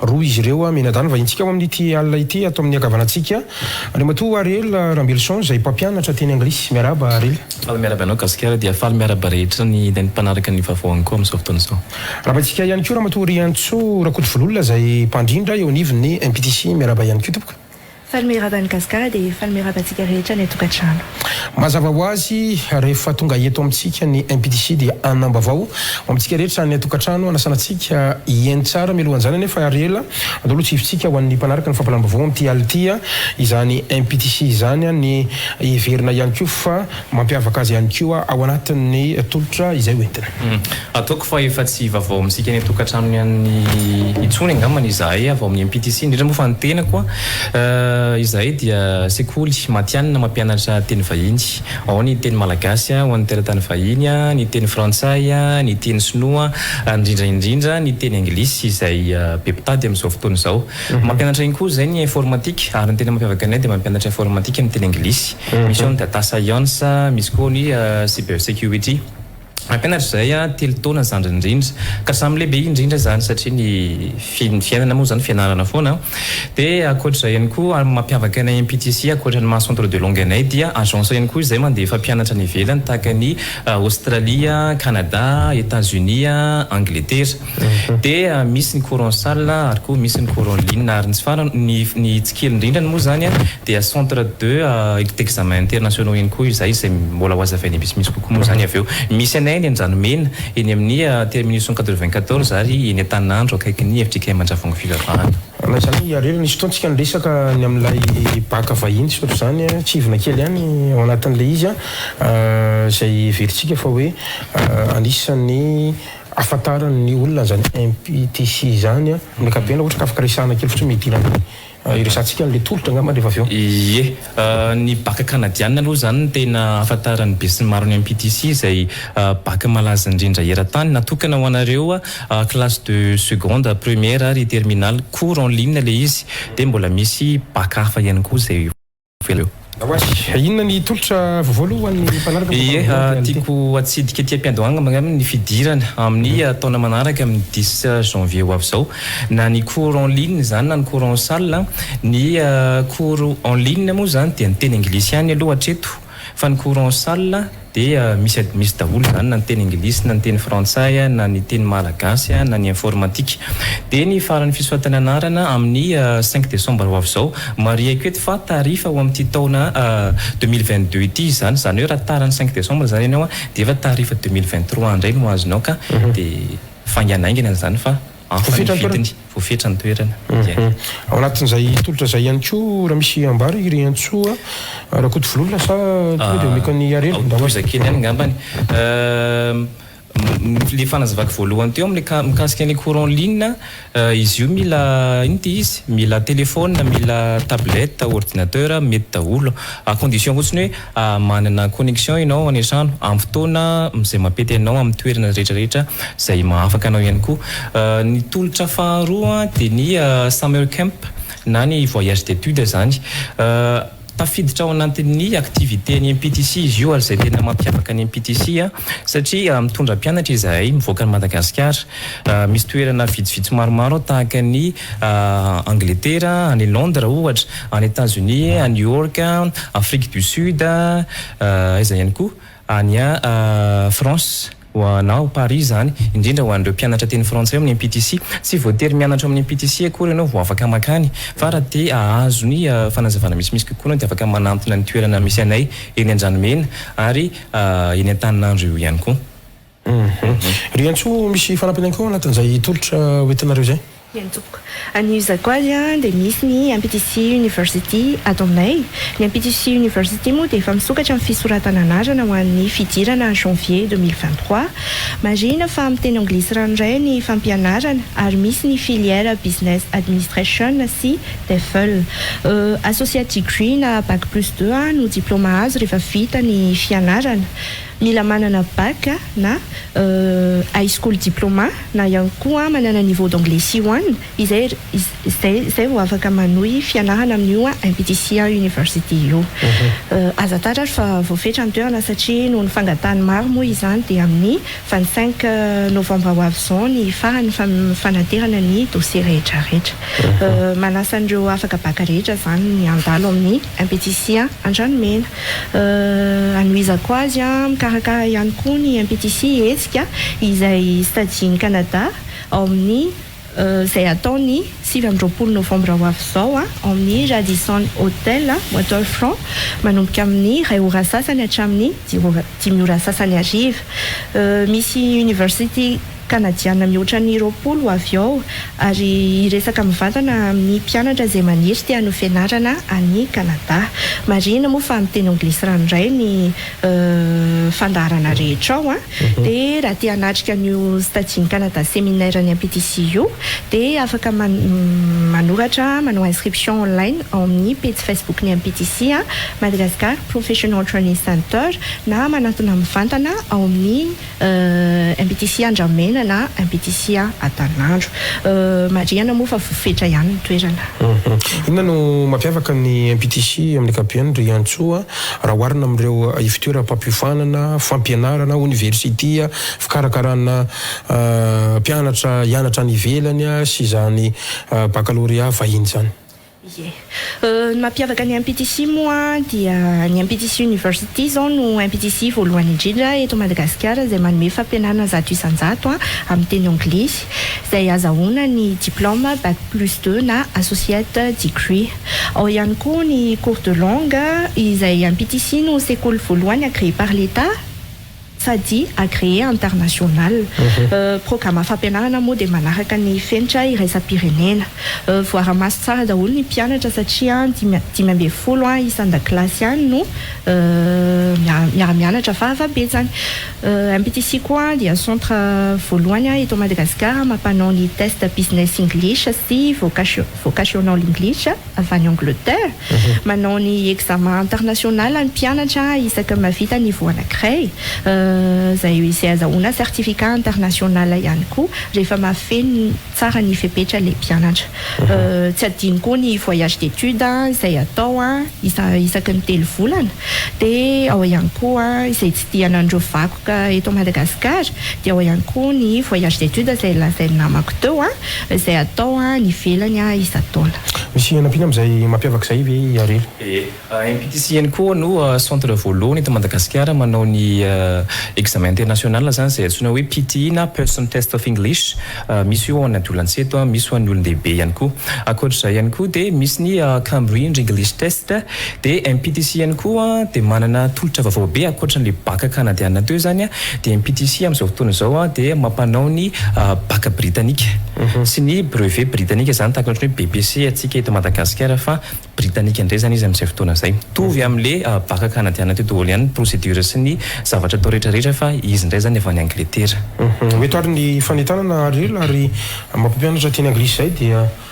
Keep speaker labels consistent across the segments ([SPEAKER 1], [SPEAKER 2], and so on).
[SPEAKER 1] Roa izy ireo mianadahy no vahintsika ao amin'ity alina ity ato amin'ny ankavanantsika. Andriamatoa Ariel Rambelison izay mpampianatra teny anglisy. Miarahaba Ariel. Faly miarahaba anao Gasikara
[SPEAKER 2] dia faly miarahaba rehetra ny izay mpanaraka ny vaovao ihany koa amin'izao fotoana izao. Arahabaintsika ihany koa
[SPEAKER 1] Ramatoa Riantsoa Rakotovololona izay mpandrindra eo anivon'ny MPTC. Miarahaba ihany koa tompoko. Falme raba ny
[SPEAKER 3] Gasikara dia falme raba antsika rehetra any an-tokantrano. Mazava ho
[SPEAKER 1] azy, rehefa tonga eto amintsika ny MPDC dia hanambavao ho amintsika rehetra any an-tokantrano, hanasana antsika hihaino tsara. Mialohan'izany anefa ary ela, atao aloha tsifintsika ho an'ny mpanaraka ny fampalam-bavao amin'ity alina ity izany MPDC izany, ny hiverina ihany koa fa Mampiavaka azy ihany koa ao anatin'ny tolotra izay ho entina. Ataoko fa
[SPEAKER 2] efa tsy vaovao amintsika eny an-tokantranony any intsony angamba ny izahay avy ao amin'ny MPTC, indrindra moa fa ny tenako. Izahay dia sekoly matihanina mampianatra teny vahiny. Ao ny teny malagasy ho an'ny teratany vahiny, ny teny frantsay, ny teny sinoa ary indrindra indrindra ny teny anglisy izay be mpitady amin'izao fotoana izao. Mampianatra iny koa izay ny informatika ary ny tena mampiavaka anay dia mampianatra informatika amin'ny teny anglisy. Misy ao ny data science, misy koa ny cyber security. Mampianatra izahay telo taona zandriny indrindra ka samy lehibe indrindra izany satria ny fiainana moa izany fianarana foana. Dia ankoatra izay ihany koa mampiavaka anay MPTC ankoatra ny maha centre de langue anay dia agence ihany koa izay mandefa mpianatra any ivelany tahaka an'i Aostralia, Kanada, Etats-Unis, Angletera. dia misy ny courant sale ary koa misy ny courant ligne ary ny tsy farany ny ny tsy kely indrindrany moa izany dia centre de d'examen internationaux ihany koa izay izay mbola ho azavainay misimisy kokoa moa izany avy eo misy anay eny Andranomena eny amin'ny terminus cent quatre vingt quatorze ary eny Antaninandro akaikin'ny FJKM Andravoahangy Fivavahana. Raha izany i Harry
[SPEAKER 1] nisy fotoana isika niresaka ny amin'ilay bac vahiny tsy ohatr'izany kivina kely ihany ao anatin'ilay izy izay heverintsika fa hoe anisan'ny ahafantaran ny olona an'izany MPTC izany an. Ny ankapobeny ohatra ka afaka resahana kely fotsiny midina amin'ny hiresahantsika an'ilay tolotra angamba rehefa avy eo. Ie,
[SPEAKER 2] ny baka kanadiana aloha izany no tena ahafantaran'ny besinimaro ny MPTC izay baka malaza indrindra eran-tany. Natokana ho anareo classe de seconde, première ary terminale. Cours en ligne ilay izy dia mbola misy baka hafa ihany koa izay. veleo. Oay, inona
[SPEAKER 1] ny tolotra voavolo ho an'ny mpanaraka ny Ie, tiako
[SPEAKER 2] hatsidika ety am-piandohanga angamba ny fidirana amin'ny taona manaraka amin'ny dix janvier ho avy izao, na ny cours en ligne izany na ny cours en salle, ny cours en ligne moa izany dia ny teny anglisy ihany aloha hatreto fa ny cours en salle, dia misy admisy daholo izany na ny teny anglisy na ny teny frantsay na ny teny malagasy na ny informatika. Dia ny faran'ny fisoratana anarana amin'ny cinq décembre ho avy izao. Marihiko eto fa tarif ho amin'ity taona deux mille vingt deux ity izany, izany hoe raha tara ny cinq décembre izany ianao dia efa tarif deux mille vingt trois indray no azonao ka dia faingana haingana izany fa hafa ny vidiny, voafetra ny toerana, dia. Ao
[SPEAKER 1] anatin'izay tolotra izay ihany koa raha misy ambara i Riantsoa Rakotovololona sa tonga dia omeko an'i Iarely mba ho azy. Tohiza kely ihany angambany.
[SPEAKER 2] Ilay fanazavako voalohany teo amin'ilay ka, mikasika an'ilay courant ligne, izy io mila inona ity izy? Mila telephone, mila tablette, ordinateur, mety daholo. À condition fotsiny hoe. Manana connexion ianao any an-trano amin'ny fotoana izay mampety anao amin'ny toerana rehetrarehetra izay mahafaka anao ihany koa. Ny tolotra faharoa dia ny summer camp na ny voyage d'études izany. Tafiditra ao anatin'ny activités ny MPTC izy io ary izay tena mampiavaka ny MPTC satria mitondra mpianatra izahay mivoaka an'i Madagasikara. Misy toerana vitsivitsy maromaro tahaka ny Angletera, any Londres ohatra, any Etats Unis, any New York, Afrique du Sud, aiza ihany koa, any France, ho na ao Paris izany, indrindra ho an'ireo mpianatra teny frantsay ao amin'ny MPTC. Tsy voatery mianatra ao amin'ny MPTC akory ianao vao afaka mankany, fa raha te hahazo ny fanazavana misimisy kokoa ianao dia afaka manantona ny toerana misy anay eny Andranomena ary eny Antaninandro eo ihany koa.
[SPEAKER 1] Ry Antsoa, misy fanampiny ihany koa ao anatin'izay tolotra ho entinareo izay? Ry Antsoa,
[SPEAKER 3] any Zakoaly dia misy ny MPTC University ato aminay. Ny MPTC University moa dia efa misokatra ny fisoratana anarana ho an'ny fidirana janvier deux mille vingt trois. Marihina fa amin'ny teny anglisy ranoray ny fampianarana ary misy ny filière Business Administration sy TEFL. Associate Degree na Bac plus deux no diplaoma azo rehefa vita ny fianarana. Mila manana bac na high school diploma na ihany koa manana niveau d'anglais C one izay izay izay vao afaka manohy fianarana amin'io MPTC University io. Aza tatratra fa voafetra ny toerana satria noho ny fangatahan'ny maro moa izany dia amin'ny vingt cinq novembre ho avy izao ny faran'ny fanaterana ny dossier rehetra rehetra. Manasa an'ireo afaka bac rehetra izany ny handalo amin'ny. MPTC a, Andranomena. Anohizako azy a, mikarakara ihany koa ny MPTC hetsika izay stajin' i Kanada ao amin' ny izay hatao ny sivy amby roapolo novambra ho avy izao a, ao amin' ny Radisson Hotel, Waterfront, manomboka amin' ny iray ora sasany hatramin' ny dimy ora sasany hariva. Misy University. Kanadiana mihoatra ny roapolo avy ao ary hiresaka mivantana amin'ny mpianatra izay maniry te hanohy fianarana any Kanada. Marihina moa fa miteny anglisy ranoray ny fandaharana rehetra ao an! Dia raha te hanatrika an'io Stagian'i Kanada Seminaire ny MPTC io dia afaka manoratra manao inscription online ao amin'ny pejy Facebook ny MPTC Madagascar Professional Training Center na manantona mivantana ao amin'ny Impiticia Andramena na Impiticia Atalanandro. Marihana moa fa voafetra ihany ny toerana. Inona no
[SPEAKER 1] mampiavaka ny Impiticia amin'ny ankapobeny, ry Antsoa, raha oharina amin'ireo ivon-toeram-pampiofanana, fampianarana, oniversitia, fikarakarana mpianatra hianatra any ivelany sy izany bakalorea vahiny izany? Ie.
[SPEAKER 3] Ny mampiavaka ny MPTC moa dia ny MPTC University izao no MPTC voalohany indrindra eto Madagasikara izay manome fampianarana zato isan-jato amin'ny teny anglisy izay azahoana ny diplaoma Bac plus deux na Associate Degree. Ao ihany koa ny cours de langue izay MPTC no sekoly voalohany agréé par l'Etat. sady agréé international. Programa fampianarana moa dia manaraka ny fenitra iraisam-pirenena. Voara-maso tsara daholo ny mpianatra satria dimy dimy ambin'ny folo isan-dakilasy ihany no miara-mianatra fahavabetsany. MPTC koa dia centre voalohany eto Madagasikara mampanao ny test Business English sy Vocation Vocational English. avy any Angleterre, manao ny examen international ny mpianatra isaky ny mahavita niveau anankiray, izay izay azahoana certificat international ihany koa rehefa mahafeno tsara ny fepetra ilay mpianatra. Tsy adino koa ny voyage d'étude izay atao isa isaky ny telo volana, dia ao ihany koa izay tsidihana an'ireo vakoka eto Madagasikara, dia ao ihany koa ny voyage d'étude izay lazain'ny namako teo. Izay atao any ivelany isan-taona. Misy hanampiana amin'izay
[SPEAKER 1] mampiavaka izay ve i Harena? Dia MPTC
[SPEAKER 2] ihany koa no centre voalohany eto Madagasikara manao ny examen international izany izay antsoina hoe PTE na Person Test of English. Misy io ho an'ny adolance eto, misy ho an'ny olon-dehibe ihany koa. Ankoatr'izay ihany koa dia misy ny Cambridge English Test. Dia MPTC ihany koa dia manana tolotra vaovao be ankoatran'ilay baka kanadiana teo izany dia MPTC amin'izao fotoana izao dia mampanao ny baka britanika sy ny brevet britanika izany tahaka ny ohatran'ny hoe BPC antsika eto Madagasikara fa britanika indray izany izy amin'izay fotoana izay. Mitovy amin'ilay baka kanadiana teo daholo ihany ny procédure sy ny zavatra atao rehetra rehetra fa izy indray izany avy any Angletera. Mety ary ny
[SPEAKER 1] fanentanana ary ela ary maha mpampianatra teny anglisy izay dia.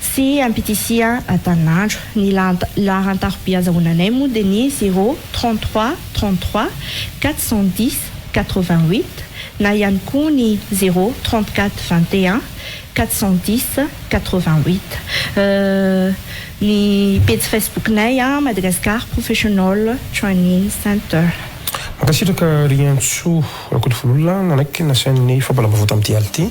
[SPEAKER 3] sy ampitisia antanin'andro. Ny laharan-tarobia azahoananay moa dia ny zéro, trente trois, trente trois, quatre cent dix, quatre vingt huit, na ihany koa ny zéro, trente quatre, vingt et un, quatre cent dix, quatre vingt huit. Ny pejy Facebook-nay, Madagascar Professional Training Center. Mankasitraka
[SPEAKER 1] Riantsoa. Rakotovolola nanaiky ny nasain'ny fampahalalam-baovao tamin'ity alina ity.